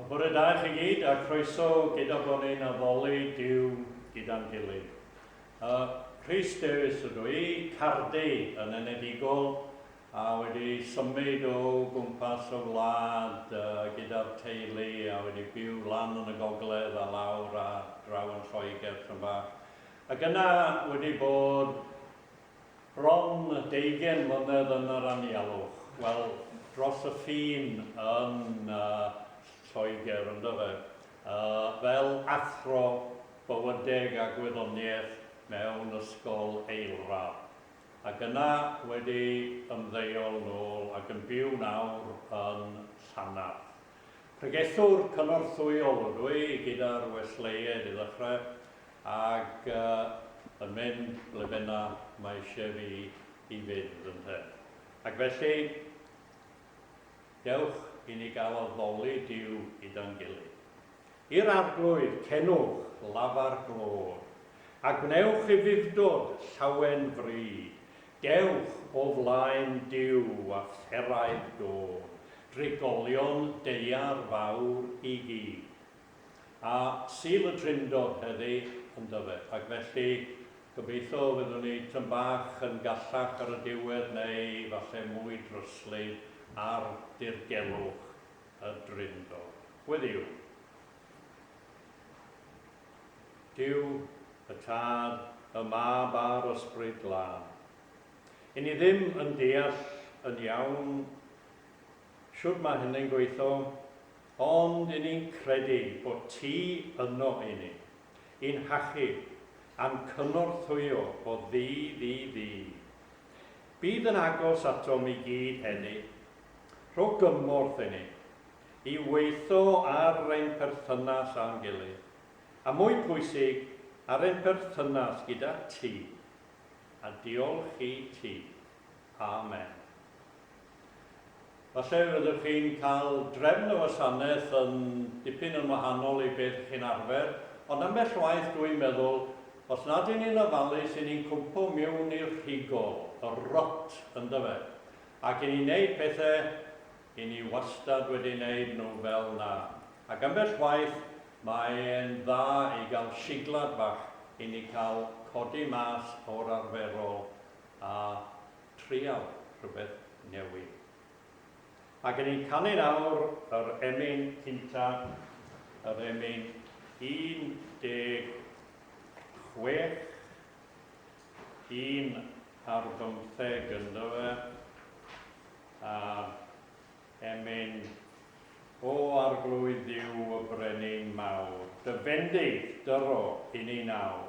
Bore da chi gyd a croeso gyda bod ni'n addoli Dyw gyda'n gilydd. Uh, Rhys Davies ydw i, cardi yn enedigol, a wedi symud o gwmpas y wlad uh, gyda'r teulu a wedi byw lan yn y gogledd a lawr a draw yn Lloegr tyn bach. Ac yna wedi bod bron deugain mlynedd yn yr anialwch, wel, dros y ffin yn Lloegr, yndyfe, fel athro bywydeg a gwyddoniaeth mewn ysgol eilradd, ac yna wedi ymddeol nôl ac yn byw nawr yn Llanarth. Pregethwr cynorthwyol ydw i, gyda'r Wesleyiaid i ddechrau, Ac yn mynd ble bynna mae eisiau fi i fynd, ynte. Ac felly, dewch i ni gael addoli Duw gyda'n gilydd. I'r Arglwydd, cenwch lafar glod, a gwnewch ufudd-dod llawen fryd, dewch o flaen Duw a pheraidd dod, drigolion deuar fawr i gyd. a Sul y Drindod heddiw ynddo fe, ac felly gobeithio fyddwn ni tym bach yn gallach ar y diwedd neu falle mwy dryslyd ar dirgelwch y Drindod. Gweddïwn. Duw, y Tad, y Mab a'r Ysbryd Glân. I ni ddim yn deall yn iawn Shwt mae hynny'n gweithio? Ond i ni'n credu bod Ti yno i ni, i'n hachub a'n cynorthwyo o ddydd i ddydd. Bydd yn agos atom i gyd heddi. Rho gymorth i ni i weithio ar ein perthynas â'n gilydd, a mwy pwysig, ar ein perthynas gyda Ti. A diolch i Ti. Amen. Falle fyddwch chi'n cael drefn y wasanaeth yn dipyn yn wahanol i be dych chi'n arfer, ond ambell waith dw i'n meddwl, os nad y'n ni'n ofalus y'n ni'n cwmpo miwn i'r rhigol, y rot yndyfe? Ac y'n ni'n neud pethe y'n ni wastad wedi neud nhw fel 'na. Ac ambell waith mae e'n dda i gael siglad bach i ni cael codi mas o'r arferol a trial rhywbeth newydd. Ac yn ein canu'n awr yr emyn cynta, yr emyn 16, un ar bymtheg ynddo fe, a emyn O arglwydd yw y brenin mawr, dy fendith dyro i ni nawr.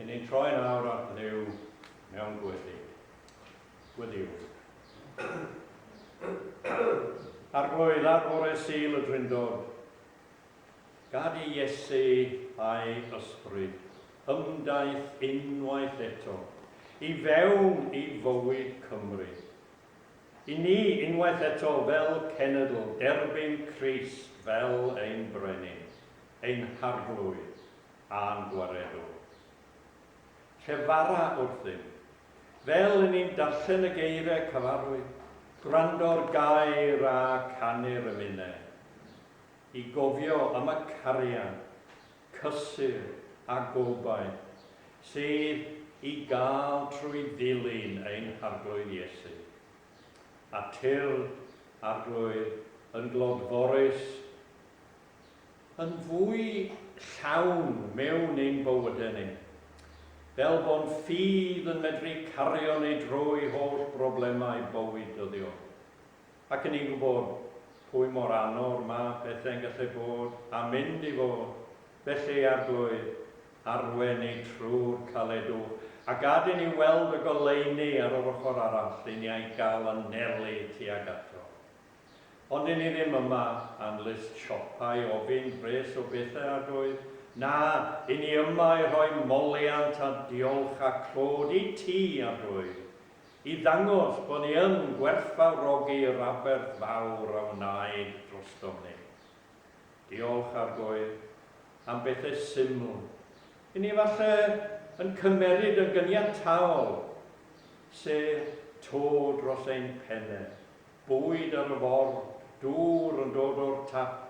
Yn ni'n troi nawr at ddew mewn gweddi. Gweddiw. Argoedd ar fore sil y drindod. Gad i Iesu a'i ysbryd ymdaith unwaith eto i fewn i fywyd Cymru I ni, unwaith eto fel cenedl, derbyn Crist fel ein Brenin, ein Harglwydd a'n Gwaredwr. Llefara wrthym, fel y ni'n darllen y geiriau cyfarwydd, gwrando'r gair a canu'r ymunedd, i gofio am y cariad cysur a gobaith sydd i gael trwy ddilyn ein Harglwydd Iesu. A tyrr Arglwydd yn glodforus yn fwy llawn mewn ein bywydau ni, fel bo'n ffydd yn medru cario ni drwy holl broblemau bywyd dyddiol. Ac yn ni'n gwybod pwy mor anodd mae pethau'n gallu bod a mynd i fod, felly Arglwydd, arwain ni trwy'r caledwch, a gad i ni weld y goleuni ar yr ochr arall i ni a'i gael anelu tuag ato. Ond i ni ddim yma am list siopa i ofyn pres o bethau, Arglwydd, na, i ni yma i rhoi moliant a diolch a clod i Ti, Arglwydd, I ddangos bod ni yn gwerthfawrogi'r aberth fawr a wnaed drostom ni. Diolch, Argoe, am bethau syml, i ni falle yn cymeryd yn gyniataol, se, to dros ein penne, bwyd ar y ford, dŵr yn dod o'r tap,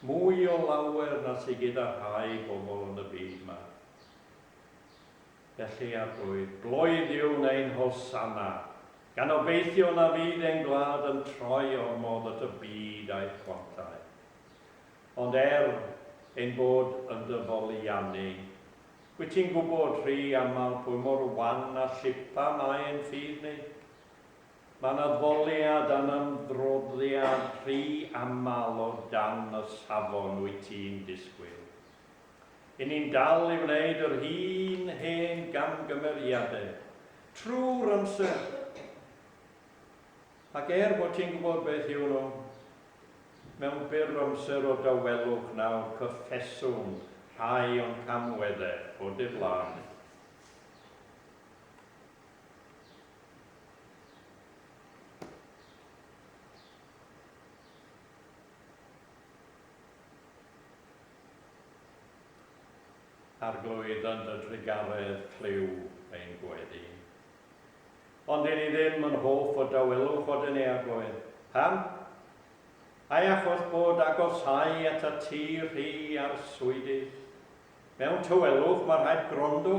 mwy o lawer na sy gyda rhai bobl yn y byd 'ma. Felly ar goedd gloydiwn ein Hosanna, gan obeithio na fydd ein gwlad yn troi ormod at y byd a'i chwantau. Ond er ein bod yn dy foliannu, wyt ti'n gwybod rhy aml pwy mor wan a llipa mae ein ffydd ni. Mae'n addoliad a'n ymdroddiad rhy aml o dan y safon wyt ti'n disgwyl. 'yn ni'n dal i wneud yr un hen gamgymeriadau trwy'r amser, ac er bod ti'n gwybod beth yw nhw, mewn byr amser o dawelwch nawr cyffeswn rhai o'n camweddau o diflannu. Arglwydd yn dy drugaredd clyw ein gweddi. Ond dyn ni ddim yn hoff o dawelwch o dyn eaglwydd. Pam? Ai achos bod agosáu at y ti rhy arswydus? Mewn tawelwch mae rhaid gwrando,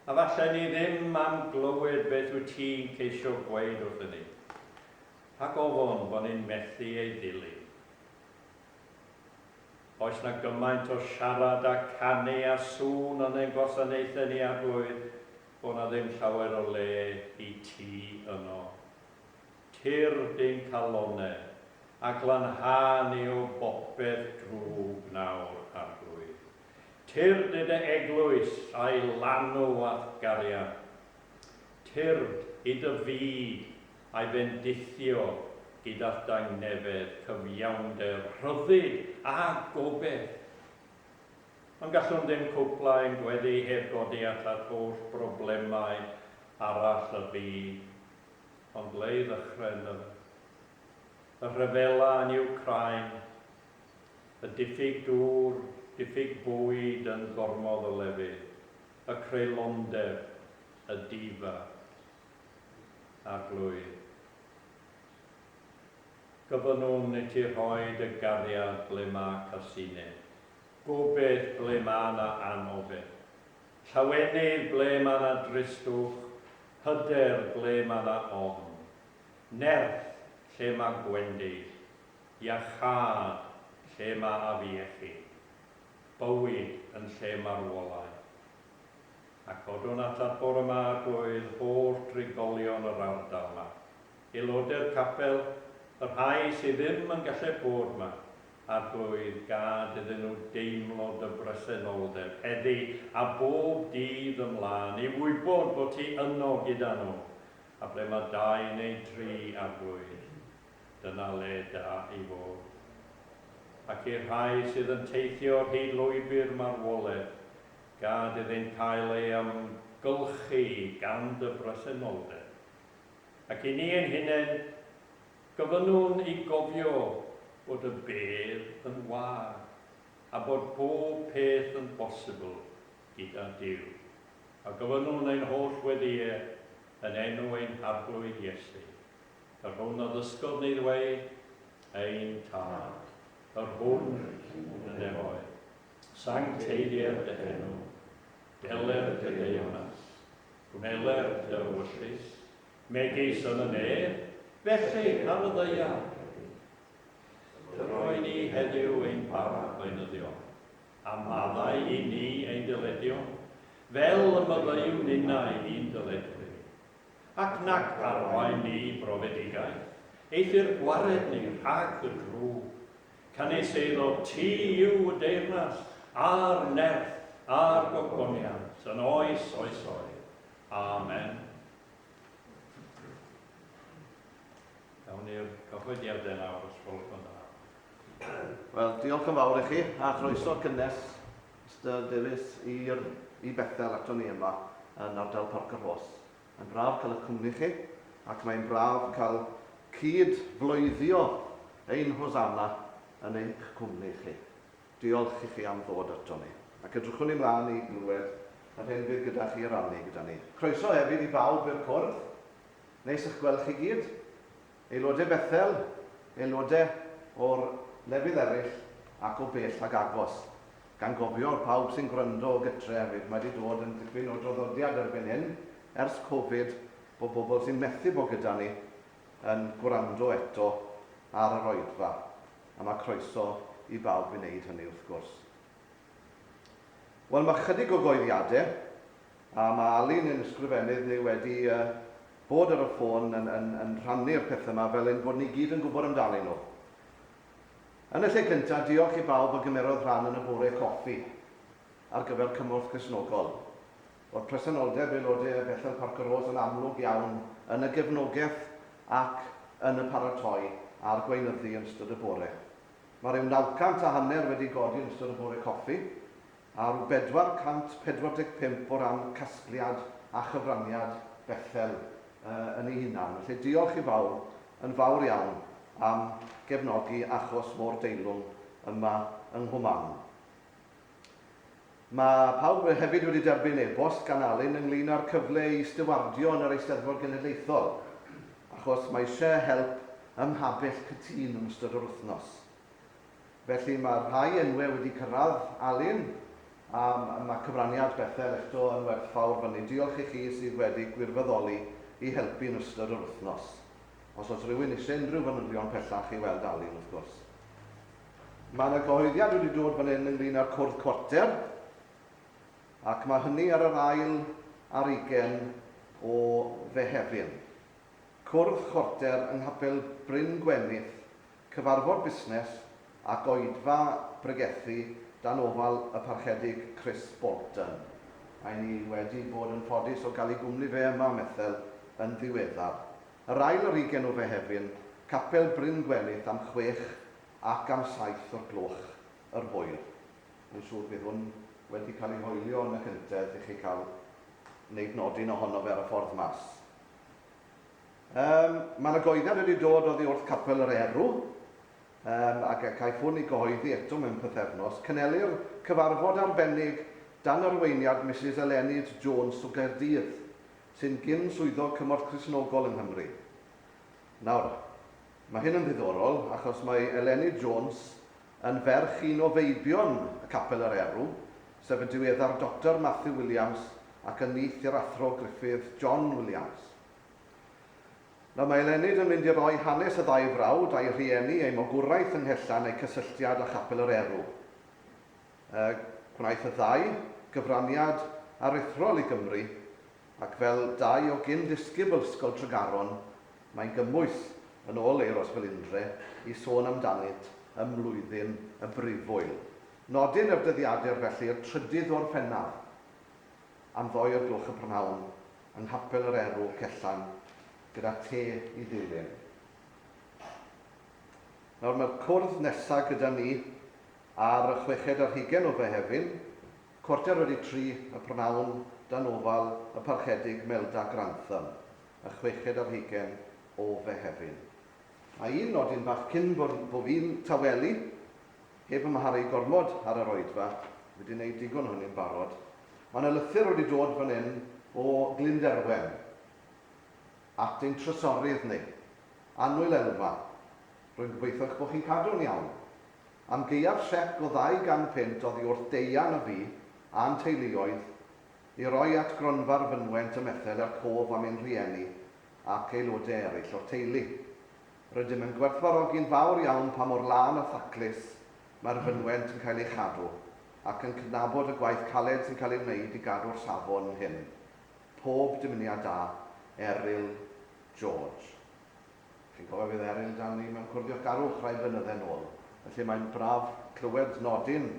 a falle ni ddim am glywed beth wyt ti'n ceisio gweud wrthyn ni. Rhag ofon bod ni'n methu ei ddilyn. Oes 'na gymaint o siarad a canu a sŵn yn ein gwasanaethau ni a boed bod 'na ddim llawer o le i ti yno? Tyrr di'n calonnau a glanhau ni o bopeth drwg nawr, Arglwydd. Tyrd i dy eglwys a'i lanw a'th gariad. Tyrd i dy fyd a'i fendithio gyda dangnefedd, cyfiawnder, rhyddid a gobaith. Ond gallwn ddim cwblhau ein gweddi heb godi at at holl broblemau arall y byd. Ond ble i ddechrau yn yr y rhyfela yn Ukraine, y diffyg dŵr, diffyg bwyd yn gormodd o lefydd, y creulondeb, y difa. Arglwydd. Gofynnwn i ti rhoi dy gariad ble mae casineb, gobaith ble mae yna anobaith, llawenydd ble mae yna dristwch, hyder ble mae yna ofn, nerth lle mae gwendid, iachâd lle mae afiechyd, bywyd yn lle marwolaeth. a codwn atat bore ma drwy'th holl drigolion yr ardal ma, aelodau'r capel, y rhai sy ddim yn galled bod ma, Arglwydd, gad iddyn nhw deimlo dy bresenoldeb heddi a bob dydd ymlân, i wybod bod ti yno gyda nhw, a ble ma dau neu dri, Arglwydd, dyna le da i fod. Ac i'r rhai sydd yn teithio ar hyd lwybr marwoledd, Gad iddynt cael ei amgylchu gan dy bresenoldeb. Ac i ni ein hunain, gofynnwn i gofio bod y bedd yn wag a bod pob peth yn bosibl gyda Duw. A gofynnwn ein holl weddïau yn enw ein Harglwydd Iesu, yr hwn a ddysgodd ni ddweud, Ein Tad, yr hwn yn y nefoedd. Sancteiddier dy henw, deler dy deyrnas, gweler dy ewyllys, megis yn y nef, felly ar y ddaear hefyd. Dy roi ni heddiw ein para gweinyddion, a maddau i ni ein dyledion, fel y maddeuwn ninnau i'n dyledwyr. Ac nac arwain ni i brofedigaeth, eithr gwared ni rhag y drwg, Canys eiddo ti yw y deyrnas, a'r nerth, a'r gogoniant, yn oes oesoedd. Amen. Gawn i'r cyhoeddiadau nawr, os gwelwch yn dda. Wel, diolch yn fawr i chi, a chroeso cynnes Mr Davies i'r i Bethel ato ni yma yn ardal Parc yr Hos. Mae'n braf cael y cwmni chi, ac mae'n braf cael cyd-bloeddio ein Hosanna yn eich cwmni chi. Diolch i chi am ddod aton ni, ac edrychwn i mlaen i glywed yr hyn fydd gyda chi i rannu gyda ni. Croeso hefyd i bawb i'r cwrdd. Neis eich gweld chi gyd. Aelodau Bethel, aelodau o'r lefydd eraill ac o bell ac agos, gan gofio pawb sy'n gwrando o gytre hefyd, mae 'di dod yn dipyn o draddodiad erbyn hyn, ers Covid, bod bobl sy'n methu bod gyda ni yn gwrando eto ar yr oedfa, a mae croeso i bawb i wneud hynny wrth gwrs. Wel, mae chydig o goeddiadau, A mae Alun yn ysgrifennydd neu wedi bod ar y ffôn yn rhannu'r pethau yma fel ein bod ni gyd yn gwybod amdanyn nhw. Yn y lle cyntaf, diolch i bawb a gymerodd rhan yn y bore coffi ar gyfer Cymorth Cristnogol. Roedd presenoldeb aelodau Bethel Parc y Rôs yn amlwg iawn yn y gefnogaeth ac yn y paratoi a'r gweinyddu yn ystod y bore. Mae rhyw nawcant a hanner wedi godi yn ystod y bore coffi, Ar 445 o ran casgliad a chyfraniad Bethel yn ei hunan. Felly diolch i bawb yn fawr iawn am gefnogi achos mor deilwng yma yng Nghwmaman. Mae pawb hefyd wedi derbyn e-bost gan Alun ynglŷn â'r cyfle i stiwardio yn yr Eisteddfod Genedlaethol achos mae eisiau help ym Mhabell Cytun yn ystod yr wythnos. Felly mae rhai enwau wedi cyrraedd, Alun, a mae cyfraniad Bethel eto yn werthfawr fyny. Diolch i chi sydd wedi gwirfyddoli i helpu yn ystod yr wythnos. Os oes rhywun eisiau unrhyw fanylion pellach i weld Alun, wrth gwrs. Mae yna gyhoeddiad wedi dod fan hyn ynglŷn â'r cwrdd cwarter, ac mae hynny ar yr ail ar ugain o Fehefin. Cwrdd chwarter yng Nghapel Bryn Gwenith Cyfarfod Busnes a Goedfa Bregethu dan ofal y Parchedig Chris Bolton. Ry' ni wedi bod yn ffodus o gael ei gwmni fe yma am ethel yn ddiweddar. Yr ail ar ugen o Fehefin, Capel Bryn Gwelith am chwech ac am saith o'r gloch yr hwyr. Mae'n siŵr bydd hwn wedi cael ei hoelio yn y cyntedd i chi cael wneud nodyn ohono fe ar y ffordd mas. Yym, mae 'na goeddad wedi dod oddi wrth Capel yr Erw, yym, a ga- caiff hwn ei gyhoeddi eto mewn pythefnos. Cynhelir cyfarfod arbennig dan arweiniad Misus Eleni Jones o Gaerdydd, sy'n gyn Swyddog Cymorth Cristnogol yng Nghymru. Nawr, mae hyn yn ddiddorol, achos mae Eleni Jones yn ferch un o feibion y Capel yr Erw, sef y diweddar Doctor Matthew Williams ac yn nith i'r Athro Griffith John Williams. Nawr mae Elennyd yn mynd i roi hanes y ddau frawd, a'i rhieni, eu magwraeth yng Nghelltlan a'u cysylltiad â Chapel yr Erw. Y gwnaeth y ddau gyfraniad aruthrol i Gymru, ac fel dau o gyn-ddisgybl Ysgol Tregaron, mae'n gymwys, yn ôl Euros Felindre, i sôn amdanynt ym mlwyddyn y brifwyl. Nodyn yr dyddiadur felly, y trydydd o Orffennaf. am ddoi o'r gloch y prynhawn yng Nghapel yr Erw, Cellan, gyda te i ddilyn. Nawr mae'r cwrdd nesa gyda ni ar y chweched ar hugen o Fehefin, cwarter wedi tri y prynhawn dan ofal y Parchedig Melda Grantham, y chweched ar hugen o Fehefin. Mae un nodyn bach cyn bo fi'n tawelu Heb amharu gormod ar yr oedfa, fi 'di 'neud digon o hynny'n barod. Mae 'na lythyr wedi dod fan hyn o Glynderwen at ein trysorydd ni, Annwyl Elfa, rwy'n gobeithio eich bod chi'n cadw'n iawn. Am gaeaf siec o ddau gan punt oddi wrth Deian a fi a'n teuluoedd i roi at Gronfa'r Fynwent ym Methel er cof am ein rhieni ac aelodau eraill o'r teulu. Rydym yn gwerthfawrogi'n fawr iawn pa mor lân a thaclus mae'r fynwent yn cael ei chadw, ac yn cydnabod y gwaith caled sy'n cael ei wneud i gadw'r safon hyn. Pob dymuniad da. Eryl George. Chi'n cofio fydd Eryl 'da ni mewn Cwrdd Diochgarwch rai blynydde nôl, felly mae'n braf clywed nodyn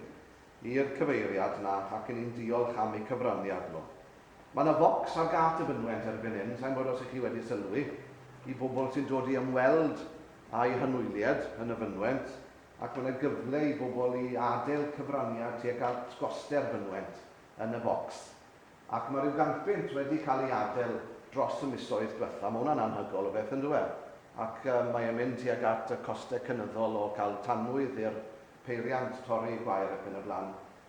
i'r cyfeiriad 'na ac 'yn ni'n diolch am eu cyfraniad nhw. Mae 'na focs ar gât y fynwent erbyn hyn, sa i'n gwybod os 'y chi wedi sylwi, i bobl sy'n dod i ymweld â'u hymwyliad yn y fynwent, ac mae 'na gyfle i bobl i adeil cyfraniad tuag at goste'r fynwent yn y focs. Ac mae rhyw gant bunt wedi cael ei adeil dros y misoedd dwetha, mae hwnna'n anhygol o beth yndyw e? Ac mae e'n mynd tuag at y coste cynyddol o cael tanwydd i'r peiriant, torri gwair ac yn y blaen.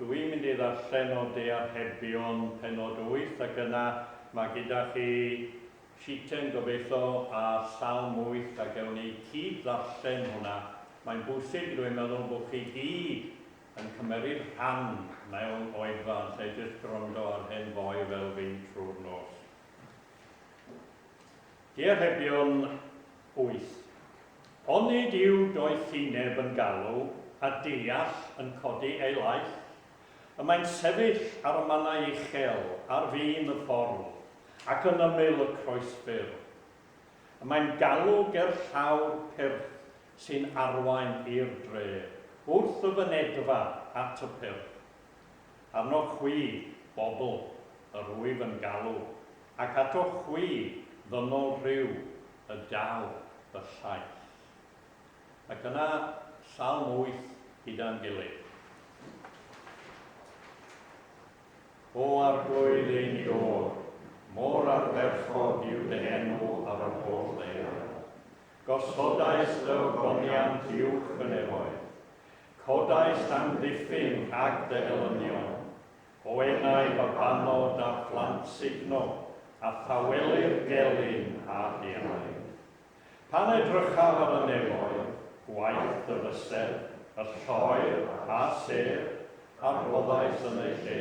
Dw i'n mynd i ddarllen o De Archebion pennod wyth ac yna mae gyda chi sheetyn gobeitho ar Salm wyth a gewn ni cyd ddarllen hwnna. Mae'n bwysig rwy'n meddwl bod chi gyd yn cymeryd rhan mewn oedfa yn lle jyst gwrando ar hen foi fel fi'n trwy'r nos. Diarebion, wyth. Onid yw doethineb yn galw a deall yn codi ei laeth? Y mae'n sefyll ar y mannau uchel ar fin y ffordd ac yn ymyl y croesfur. Y mae'n galw gerllaw'r pyrth sy'n arwain i'r dre, wrth y fynedfa at y pyrth. arnoch chwi, bobl, yr wyf yn galw, ac atoch chwi, ddynol rhyw, y daw fy llaeth. Ac yna Salm wyth gyda'n gilydd. O Arglwydd ein Duwr, mor ardderchog yw dy enw ar yr holl ddaear. Gosodais dy ogoniant uwch fy nefoedd. Codai Llanrifyn rhag dy elynion, o enau babanod a phlant sugno, a thaweli'r gelyn a rhiain. Pan edrychaf ar y nefoedd, gwaith dy fysedd, y lloer a sêr, a rhoddais yn eu lle,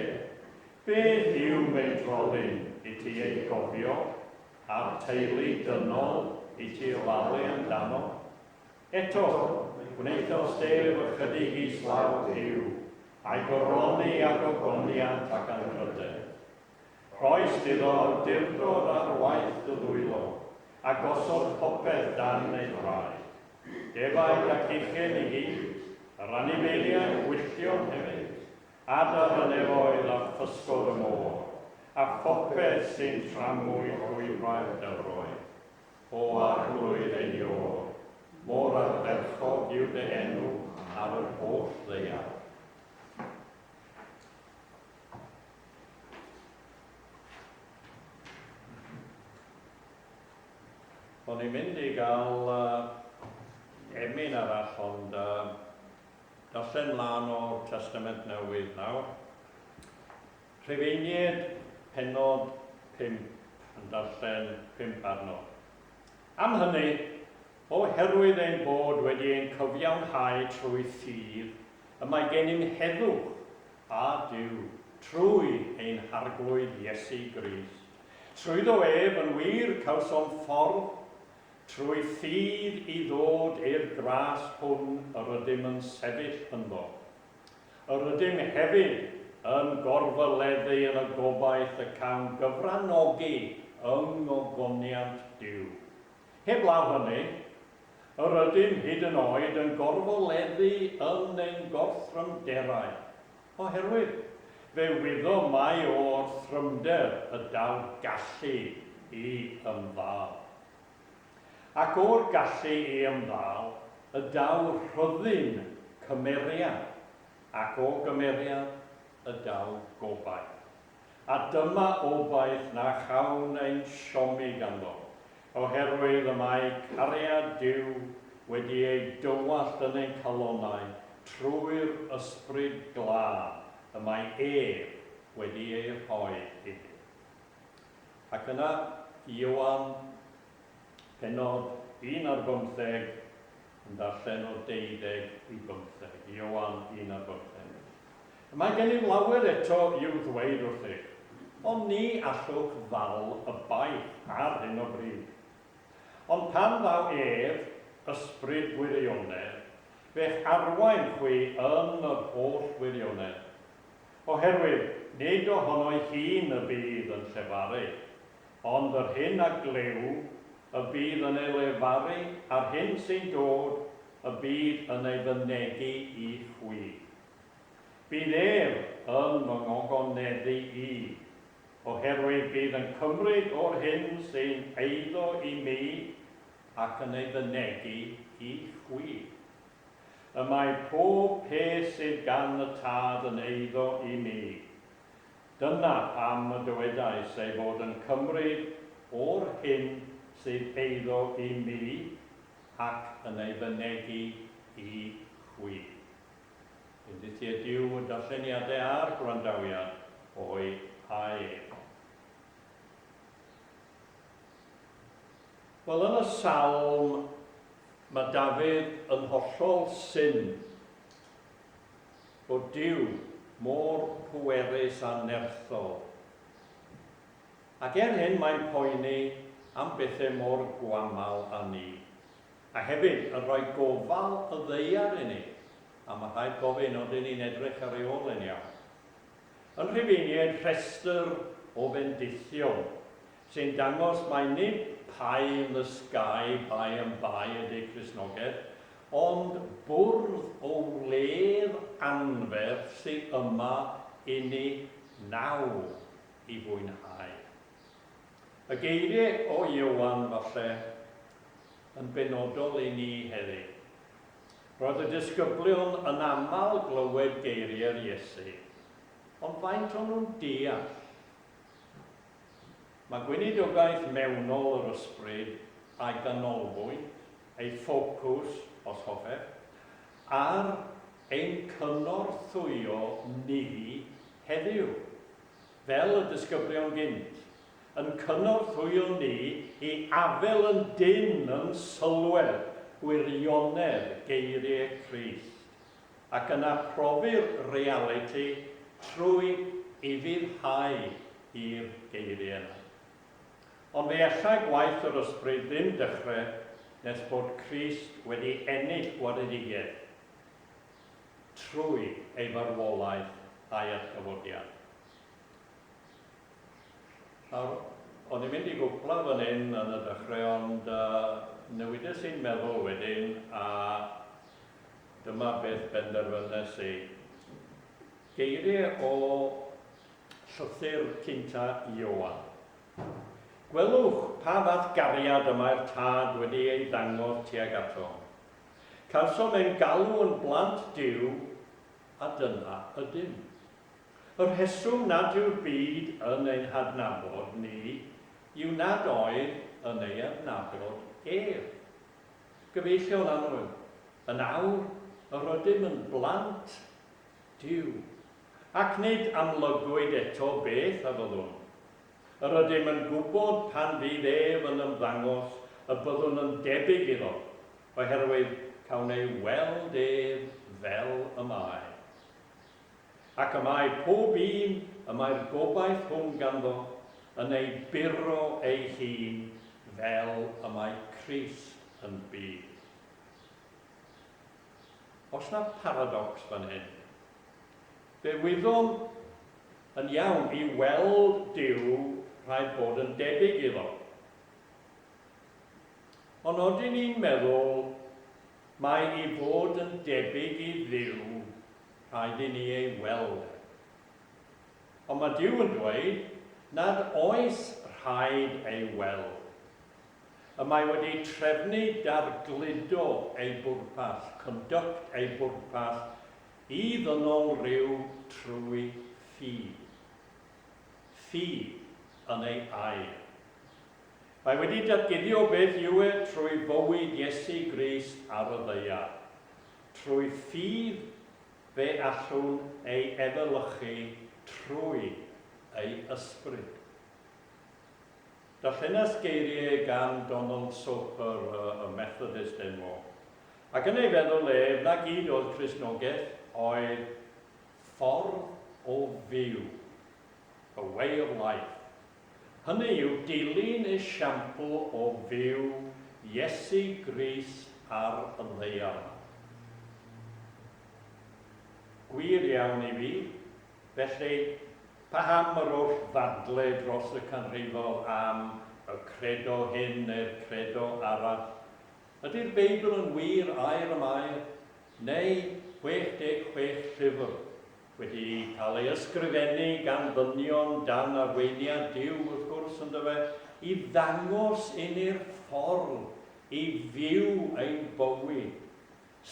beth yw meidrolyn i ti eu cofio, a'r teulu dynol i ti ofalu amdano? Eto, gwnaethodd Steve ychydig i islaw Huw, a'i goroni â gogoniant ac anrhydedd. Rhoes iddo awdurdod ar waith y ddwylo, a gosod popeth dan ei draed. Defaid a chychyn i gyd, yr anifeiliaid gwylltion hefyd, adar y nefoedd a physgod y môr, a phopeth sy'n tramwy llwybrau'r dyfroedd. O Arglwydd ei ôl, mor ardderchog yw dy enw ar yr holl ddeiar. O'n i'n mynd i gael uh, emyn arall, ond uh, darllen mlaen o'r Testament Newydd nawr. Rhufeiniaid, pennod pump, yn darllen pump arno. Am hynny, oherwydd ein bod wedi ein cyfiawnhau trwy ffydd y mae gennym heddwch â Duw trwy ein Harglwydd Iesu Grist, trwyddo ef yn wir cawsom ffordd trwy ffydd i ddod i'r gras hwn yr ydym yn sefyll ynddo. Yr ydym hefyd yn gorfoleddu yn y gobaith y cawn gyfranogi yng ngogoniant Duw. Heblaw hynny, yr ydym hyd yn oed yn gorfoleddu yn ein gorthrymderau, oherwydd fe wyddom mai o orthrymder y daw gallu i ymddal. Ac o'r gallu i ymddal, y daw rhyddhun cymeriad, ac o gymeriad, y daw gobaith. A dyma obaith na chawn ein siomi ganddo, oherwydd y mae cariad Duw wedi ei dywallt yn ein calonnau trwy'r Ysbryd Glân y mae ef wedi ei rhoi inni. Ac yna, i Ioan, pennod un ar bymtheg, yn darllen o deuddeg i bymtheg. Ioan un ar bymtheg. Y mae gennym lawer eto i'w ddweud wrthych, ond ni allwch ddal y baich ar hyn o bryd. Ond pan ddaw ef, Ysbryd Gwirionedd, fe'ch arwain chwi yn yr holl wirionedd. Oherwydd nid o hono'i hun y bydd yn llefaru, ond yr hyn a glyw y bydd yn ei lefaru a'r hyn sy'n dod y bydd yn ei fynegi i chwi. Bydd ef yn fy ngogoneddu i, oherwydd bydd yn cymryd o'r hyn sy'n eiddo i mi ac yn ei fynegi i chwi. Y mae pob peth sydd gan y Tad yn eiddo i mi. Dyna pam y dywedais ei fod yn cymryd o'r hyn sydd eiddo i mi ac yn ei fynegi i chwi. Undyth ydyw y darlleniadau a'r gwrandawiad o'u haeg. Wel, yn y Salm, mae Dafydd yn hollol syn bod Duw mor bwerus a nerthol. Ac er hyn mae'n poeni am bethau mor gwaml â ni, a hefyd yn rhoi gofal y ddaear i ni, a mae rhaid gofyn, odyn ni'n edrych ar ei ôl e'n iawn? Yn Rhufeiniaid rhestr o fendithion sy'n dangos mai nid Pie in the Sky bai am Bai ydy Cristnogaeth, ond bwrdd o wledd anferth sy yma inni nawr i fwynhau. Y geiriau o Ioan, falle, yn benodol i ni heddi, Roedd y disgyblion yn aml glywed geiriau'r Iesu, ond faint o'n nhw'n deall? Mae gweinidogaeth mewnol yr ysbryd a'i ganolbwynt, ei ffocws, os hoffech, ar ein cynorthwyo ni heddiw, fel y disgyblion gynt, yn cynorthwyo ni i afael yn dynn yn sylwedd gwirionedd geiriau Crist, ac yna profi'r realiti trwy ufuddhau i'r geiriau yna. Ond fe allai gwaith yr Ysbryd ddim dechrau nes bod Crist wedi ennill gwaredigaeth trwy ei farwolaeth a'i atgyfodiad. Nawr, o'n i'n mynd i gwpla fan hyn yn y dechrau ond yy newides i'n meddwl wedyn a dyma beth benderfynes i. Geiriau o llythyr cynta Ioan. Gwelwch pa fath gariad y mae'r Tad wedi ei ddangos tuag atom. Cawsom ein galw yn blant Duw a dyna ydym. Y rheswm nad yw'r byd yn ein hadnabod ni yw nad oedd yn ei adnabod ef. Gyfeillion annwyl, yn awr yr ydym yn blant Duw, ac nid amlygwyd eto beth a fyddwn. Yr ydym yn gwybod pan fydd ef yn ymddangos y byddwn yn debyg iddo, oherwydd cawn ei weld ef fel y mae. Ac y mae pob un y mae'r gobaith hwn ganddo yn ei buro ei hun fel y mae Crist yn byw. Oes na paradocs fan hyn? Fe wyddom yn iawn i weld Duw rhaid bod yn debyg iddo. Ond odyn ni'n meddwl mai i fod yn debyg i Dduw rhaid i ni ei weld e. Ond mae Duw yn dweud nad oes rhaid ei weld. Y mae wedi trefnu dargludo ei bwrpas, conduct ei bwrpas, i ddynol ryw trwy ffydd. Ffydd yn ei air. Mae wedi datguddio beth yw e trwy fywyd Iesu Grist ar y ddaear. Trwy ffydd, fe allwn ei efelychu trwy ei ysbryd. Darllenas geiriau gan Donald Soper, y Methodist enwog, ac yn ei feddwl ef, na gyd oedd Cristnogaeth, oedd ffordd o fyw, a way of life. Hynny yw dilyn esiampl o fyw Iesu Grist ar y ddaear. Gwir iawn i fi. Felly, paham yr oll ddadle dros y canrifoedd am y credo hyn neu'r credo arall? Ydi'r Beibl yn wir air am air, neu 66 llyfr Wedi cael ei ysgrifennu gan ddynion dan arweiniad Duw, wrth gwrs, on'd yfe, i ddangos i ni'r ffordd i fyw ein bywyd,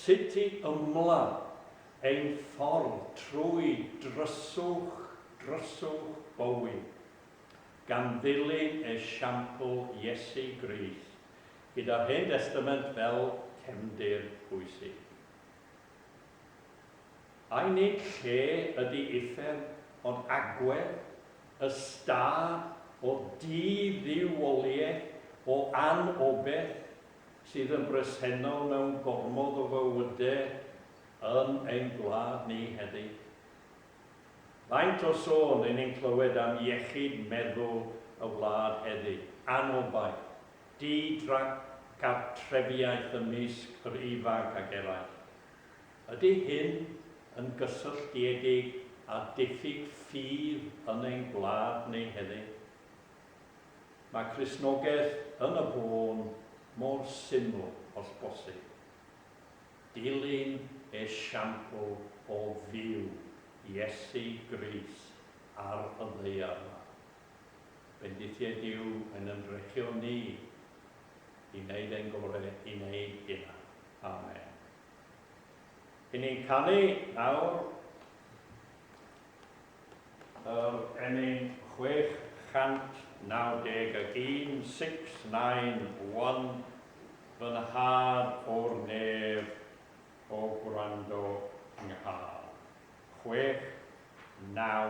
sut i ymladd ein ffordd trwy dryswch, dryswch bywyd, gan ddilyn esiampl Iesu Grist, gyda'r Hen Destament fel cefndir bwysig. Ai nid lle ydi uffern ond agwedd, y stâr o di-dduwioliaeth, o anobeth, sydd yn bresennol mewn gormod o fywyde yn ein gwlad ni heddiw? Faint o sôn ry'n ni'n clywed am iechyd meddwl y wlad heddiw, anobaith, di-drgartrefiaeth ymysg yr ifanc ac eraill? Ydy hyn yn gysylltiedig â diffyg ffydd yn ein gwlad ni heddiw? Mae Cristnogaeth yn y bôn mor syml os bosib. Dilyn esiampl o fyw Iesu Grist ar y ddaear yma. Bendithia Duw yn yn drechion ni i wneud ein gorau i wneud hynna. Amen. I ni'n canu nawr yr ennyn 691, Six, Nine, One, Fy nhad o'r nef o gwrando 'nghân. Chwech, naw,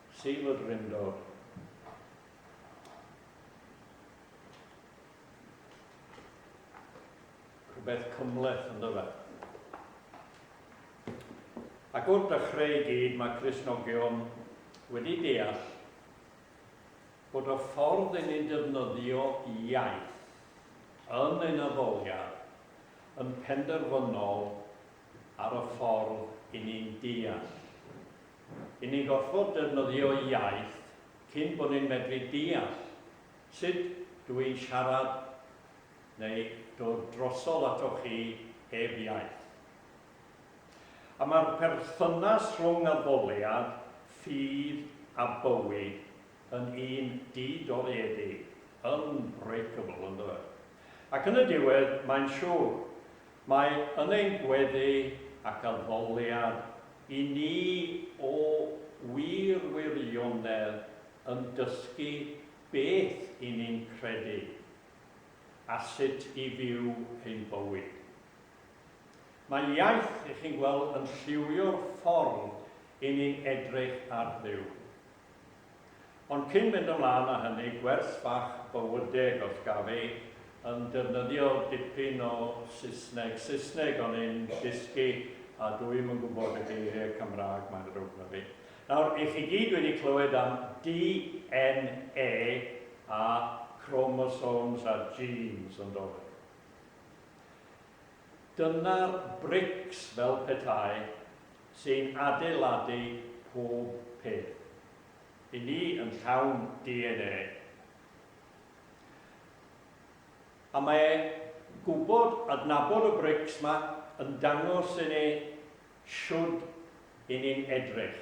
Sir y Drindod. Rhywbeth cymleth yn dyfa. Ac wrth dechrau i gyd mae Cresnogion wedi deall bod y ffordd i ni defnyddio iaith yn ein addoliad yn penderfynol ar y ffordd i ni'n deall Yn ni'n gorfod defnyddio iaith cyn bod ni'n medru deall sut dw i'n siarad neu dod drosodd atoch chi heb iaith. A mae'r perthynas rhwng addoliad, ffydd a bywyd yn un di-doriedig, unbreakable, ynddo fe? Ac yn y diwedd, mae'n siwr, Mae yn ein gweddi ac addoliad i ni o wir wirionedd yn dysgu beth i ni'n credu a sut i fyw ein bywyd. Mae iaith, 'y chi'n gweld, yn lliwio'r ffordd i ni'n edrych ar Dduw. Ond cyn mynd ymlaen â hynny, gwers bach bywydeg os gaf i, yn defnyddio dipyn o Saesneg, Saesneg o'n i'n dysgu a dw i'm yn gwybod y geiriau Cymraeg mae'n ddrwg 'na fi. Nawr, y'ch chi gyd wedi clywed am DNA a chromosomes a genes, yn do fe? Dyna'r brics fel petai sy'n adeiladu pob peth. I ni yn llawn DNA. A mae gwybod, adnabod y brics 'ma yn dangos i ni shwd 'yn ni'n edrych.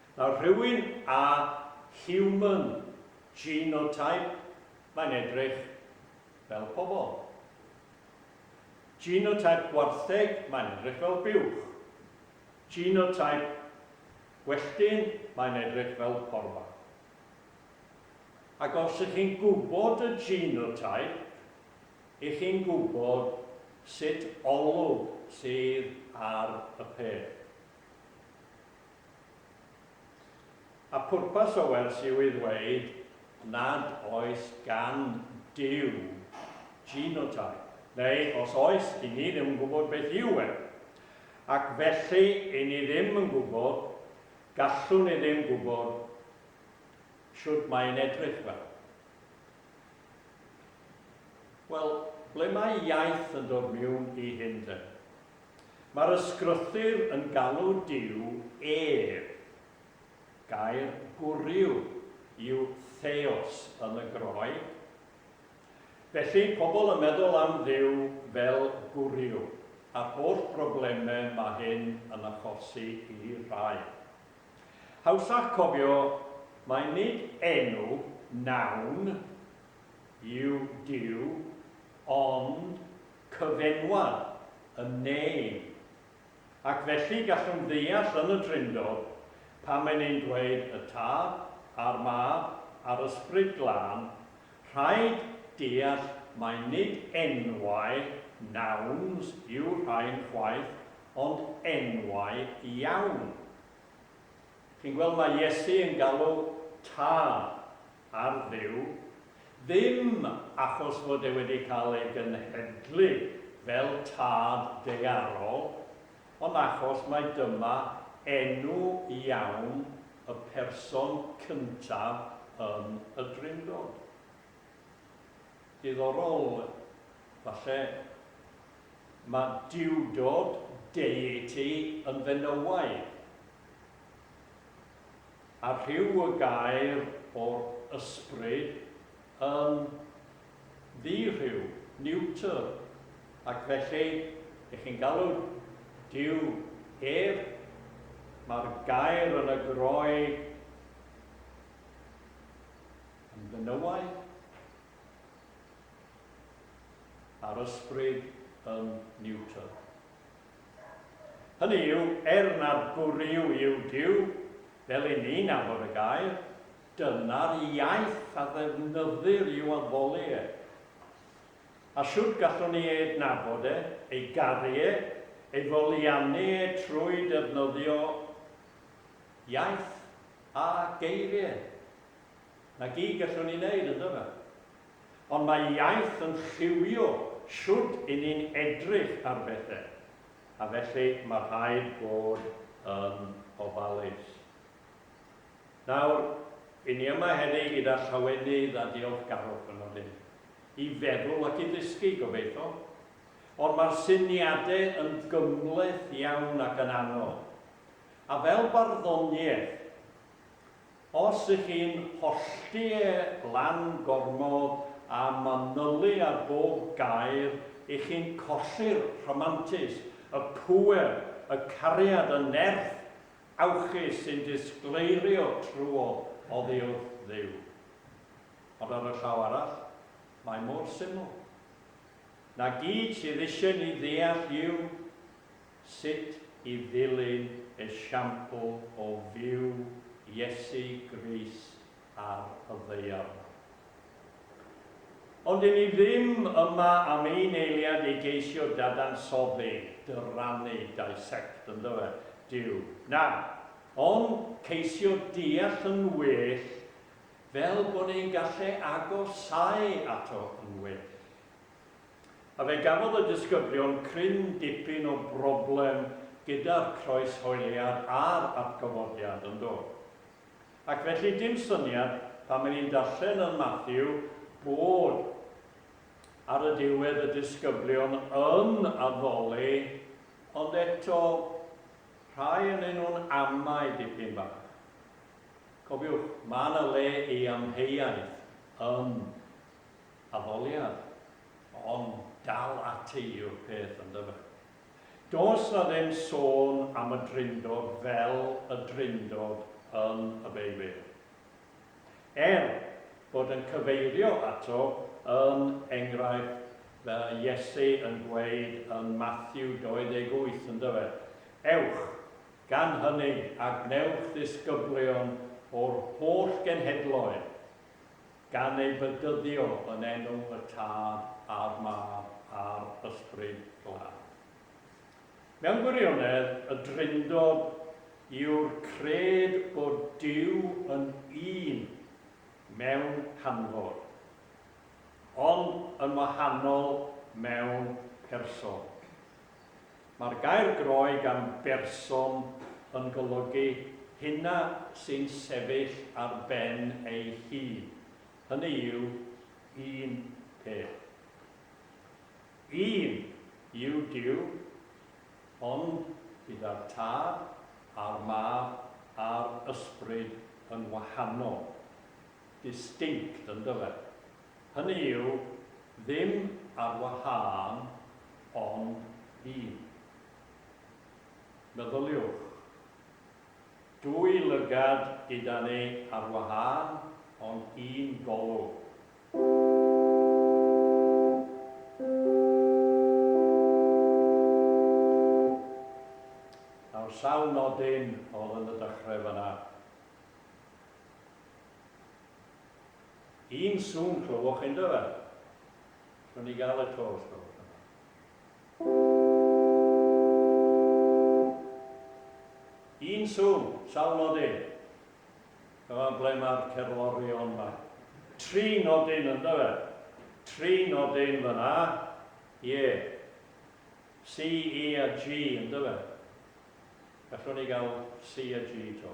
Mae rhywun â human genotype, mae'n edrych fel pobl. Genotype gwartheg, mae'n edrych fel buwch. Genotype gwelltyn, mae'n edrych fel porfa. Ac os ych chi'n gwybod y genotype, ych chi'n gwybod sut olwg sydd ar y peth. A phwrpas y wers yw i ddweud nad oes gan Duw genotype, neu os oes, 'yn ni ddim yn gwybod beth yw e. Ac felly, 'yn ni ddim yn gwybod, gallwn ni ddim gwybod shwt mae e'n edrych fel. Wel, ble mae iaith yn dod miwn i hyn te? Mae'r ysgrythur yn galw Duw ef. Gair gwryw yw theos yn y Groeg. Felly, pobl yn meddwl am Dduw fel gwryw, a'r holl broblemau mae hyn yn achosi i rai. Hawsach cofio mai nid enw, noun, yw Duw, ond cyfenwad yn name, ac felly gallwn ddeall yn y Drindod pan mae'n ein dweud y Tad, a'r Mab, a'r Ysbryd Glân, rhaid deall mai nid enwau, nouns, yw'r rhain chwaith, ond enwau iawn. Chi'n gweld, mae Iesu yn galw Tad, ar fyw, ddim achos fod e wedi cael ei genhedlu fel tad daearol, ond achos mai dyma enw iawn y person cyntaf yn y Drindod. Diddorol, falle. Mae duwdod, deity, yn fenywaidd. a rhyw y gair o'r ysbryd yn ddi-rhyw, neuter, ac felly, ych chi'n galw Duw ef? Mae'r gair yn y Groeg yn benywaidd, a'r ysbryd yn neuter. Hynny yw, er nad gwryw yw Duw, fel i ni nabod y gair, dyna'r iaith a ddefnyddir i'w addoli e. A shwt gallwn ni ei adnabod e, ei garu e, ei foliannu e trwy defnyddio iaith a geiriau? Na gyd gallwn ni wneud, yndyfe? ond mae iaith yn lliwio shwd i ni'n edrych ar bethe, a felly mae rhaid bod yn ofalus. Nawr, i ni yma heddi gyda llawenydd a diolchgarwch yn nodyn, i feddwl ac i ddysgu, gobeitho, ond mae'r syniadau yn gymhleth iawn ac yn anodd, a fel barddoniaeth, Os ych chi'n hollti e lan gormod a manylu ar bob gair, ych chi'n colli'r rhamantus, y pŵer, y cariad, y nerth awchus sy'n disgleirio trwodd oddi wrth Dduw. Ond ar y llaw arall, mae mor syml. Na gyd sydd eisiau ni ddeall yw, sut i ddilyn esiampl o fyw Iesu Grist ar y ddaear. Ond 'yn ni ddim yma am ein eiliad i geisio dadansoddi, dyrannu, dissect, yndyfe, Duw. Na, ond ceisio deall yn well fel bod ein gallu agosáu ato yn well. A fe gafodd y disgyblion cryn dipyn o broblem gyda'r croeshoeliad a'r atgyfodiad, yn do? Ac felly dim syniad, pan o'n i'n darllen yn Mathew, bod ar y diwedd y disgyblion yn addoli, ond eto, rhai ynyn nhw'n amau dipyn bach. Cofiwch, mae 'na le i amheuaeth yn Addoliad, ond dal ati yw'r peth yndyfe? Does 'na ddim sôn am y Drindod fel y Drindod yn y Beibl. Er bod yn cyfeirio ato yn enghraifft fel Iesu yn gweud yn Mathew 28 yndyfe, Ewch, gan hyny, a gwnewch ddisgyblion o'r holl genhedloedd, gan ei bedyddio yn enw y Tad a'r Mab a'r Ysbryd Glân. Mewn gwirionedd, y Drindod yw'r cred bod Duw yn un mewn canfod, ond yn wahanol mewn person. Mae'r gair groeg gan berson yn golygu hynna sy'n sefyll ar ben ei hun, hynny yw, un peth. Un yw Duw, ond gyda'r Tad a'r Mab a'r Ysbryd yn wahanol. Distinct, yndyfe? Hynny yw, ddim ar wahân, ond un. Meddyliwch, dwy lygad gyda ni ar wahân, ond un golwg. Nawr, sawl nodyn oedd yn y dechrau fan'na? Un sŵn clywwch chi yndo fe? Allwn ni gael y to os gwelwch yn dda? Un sŵn, sawl nodyn? Dyma ble mae'r cerddorion ma. Tri nodyn yndo fe? Tri nodyn fyna, ie. C, E a G yndo fe? Gallwn ni gael C a G to?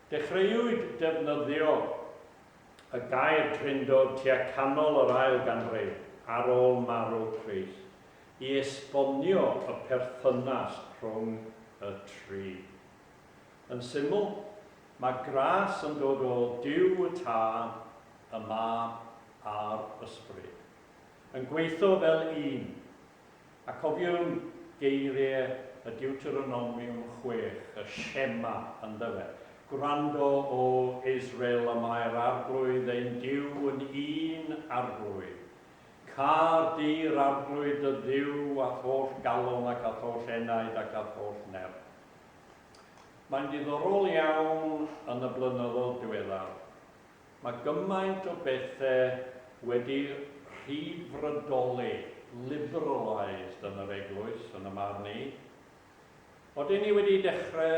Dechreuwyd defnyddio y gair drindod tua canol yr ail ganrif ar ôl marw Crist i esbonio y perthynas rhwng y tri. Yn syml, mae gras yn dod o Duw y Tad, y Mab a'r Ysbryd yn gweithio fel un A cofiwn geiriau y Diwteronomiwm chwech, y Shema, yndyfe? Gwrando, O Israel, y mae'r Arglwydd ein Duw yn un Arglwydd. Câr di'r Arglwydd dy Dduw a'th holl galon ac a'th holl enaid ac a'th holl nerth. Mae'n ddiddorol iawn yn y blynyddoedd diweddar, Mae gymaint o bethe wedi rhyddfrydoli, liberalised, yn yr eglwys, yn 'y marn i. Odyn ni wedi dechre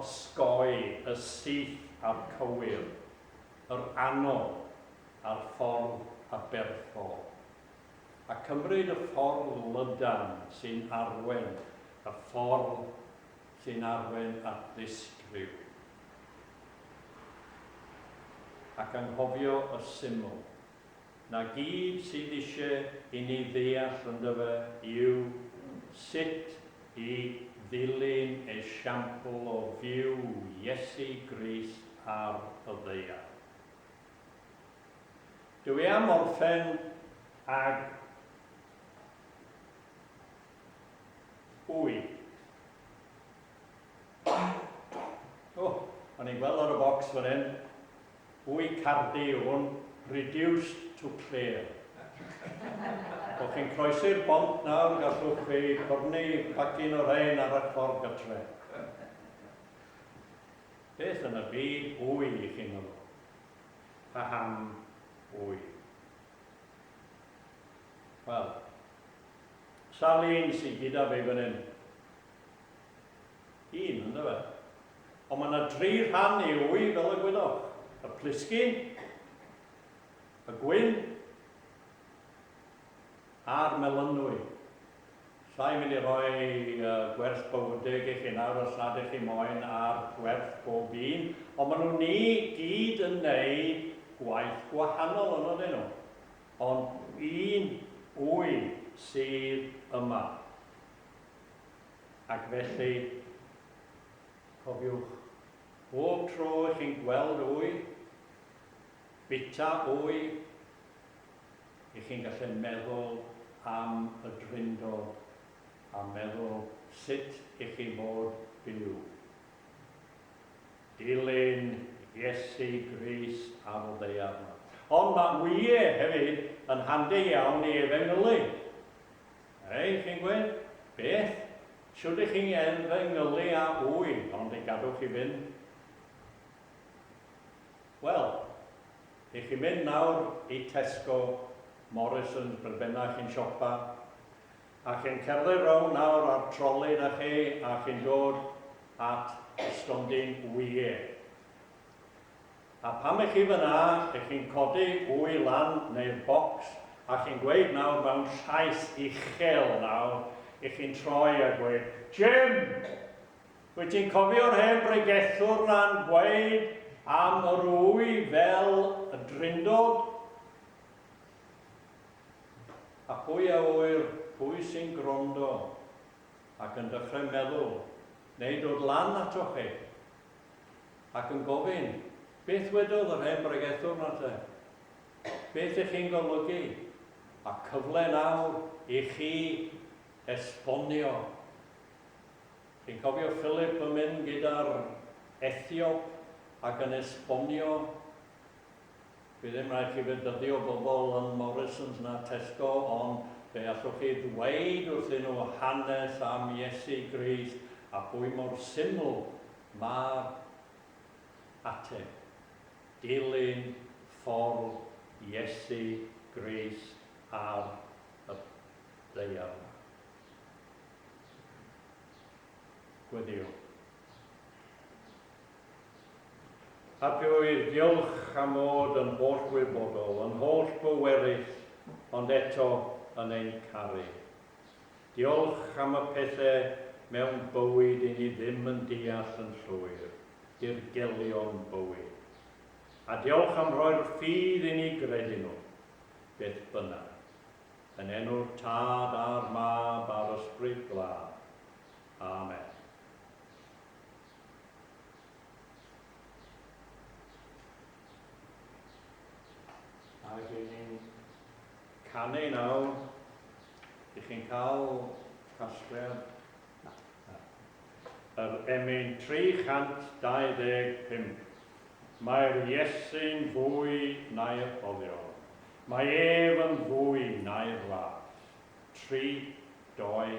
osgoi y syth a'r cywir, yr anodd a'r ffordd aberthol, a cymryd y ffordd lydan sy'n arwen y ffordd sy'n arwain at ddysg rhyw, ac anghofio y syml, na gyd sydd isie i ni ddeall yndyfe yw sut i ddilyn esiampl o fyw Iesu Grist ar y ddaear. Dw i am orffen ag Wy. O, o'n i'n gweld ar y bocs fan hyn. Wy cardi yw hwn, reduced to clear. O'ch chi'n croesi'r bont nawr, gallwch chi cornu pacin o rhain ar y ffordd gytre. Beth yn y byd wy i chi'n meddwl? Paham wy? Wel, Sawl un sy gyda fi fan hyn? Un, yndyfe? Ond mae yna dri rhan i wy fel y gwyddoch. Y plisgyn, y gwyn, a'r melynwy. Sa i'n mynd i roi uh, gwerth bywydeg i chi nawr os nad ych chi moyn ar gwerth bob un, ond maen nhw'n ni gyd yn neud gwaith gwahanol yn oedden nhw. Ond un ŵyn sydd yma. Ac felly, cofiwch, bob tro i chi'n gweld ŵyn, bita ŵyn, i chi'n gallu meddwl am y Drindod a meddwl sut i chi fod byw. Dilyn Iesu Grist ar y ddaear. Ond mae Wye hefyd yn handi iawn i efengylu. Ei, chi'n gwed? Beth? Shwd i chi efengylu a wy, ond i gadw chi fynd? Wel, i chi mynd nawr i Tesco, Morrisons, beth bynnag chi'n siopa, A chi'n cerdded rownd nawr a'r troli 'da chi a chi'n dod at y stondin wyie. A pam 'ych chi fan'na, 'ych chi'n codi wy lan neu'r bocs a chi'n gweud nawr mewn llais uchel nawr, 'ych chi'n troi a gweud, 'Jim! Wyt ti'n cofio'r hen bregethwr 'na'n gweud am yr wy fel y drindod? A pwy a ŵyr pwy sy'n gwrando ac yn dechrau meddwl neu dod lan atoch chi ac yn gofyn, 'Beth wedodd yr hen bregethwr 'na te? Beth i chi'n golygu? Mae cyfle nawr i chi esbonio. Chi'n cofio Philip yn mynd gyda'r Ethiop ac yn esbonio Bydd ddim rhaid chi fynd a ddio bobl yn Morrisons na Tesco ond fe allwch chi ddweud wrthyn nhw hanes am Iesu Grist a phwy mor syml mae'r ateb, dilyn ffordd Iesu Grist ar y ddaear 'ma. Gweddïo. Hapioedd, diolch am fod yn hollwybodol, yn hollbwerus, ond eto yn ein caru. Diolch am y pethe mewn bywyd i ni ddim yn deall yn llwyr, dirgelion bywyd. A diolch am rhoi'r ffydd i ni gredu nhw, beth bynnag. Yn enw'r Tad a'r Mab a'r Ysbryd Glân. Amen. A dyn ni'n canu nawr, ydych chi'n cael casgliad? Na. Na. Yr emyn 325, Mae'r Iesu'n fwy na'r olion, mae ef yn fwy na'r las. 32.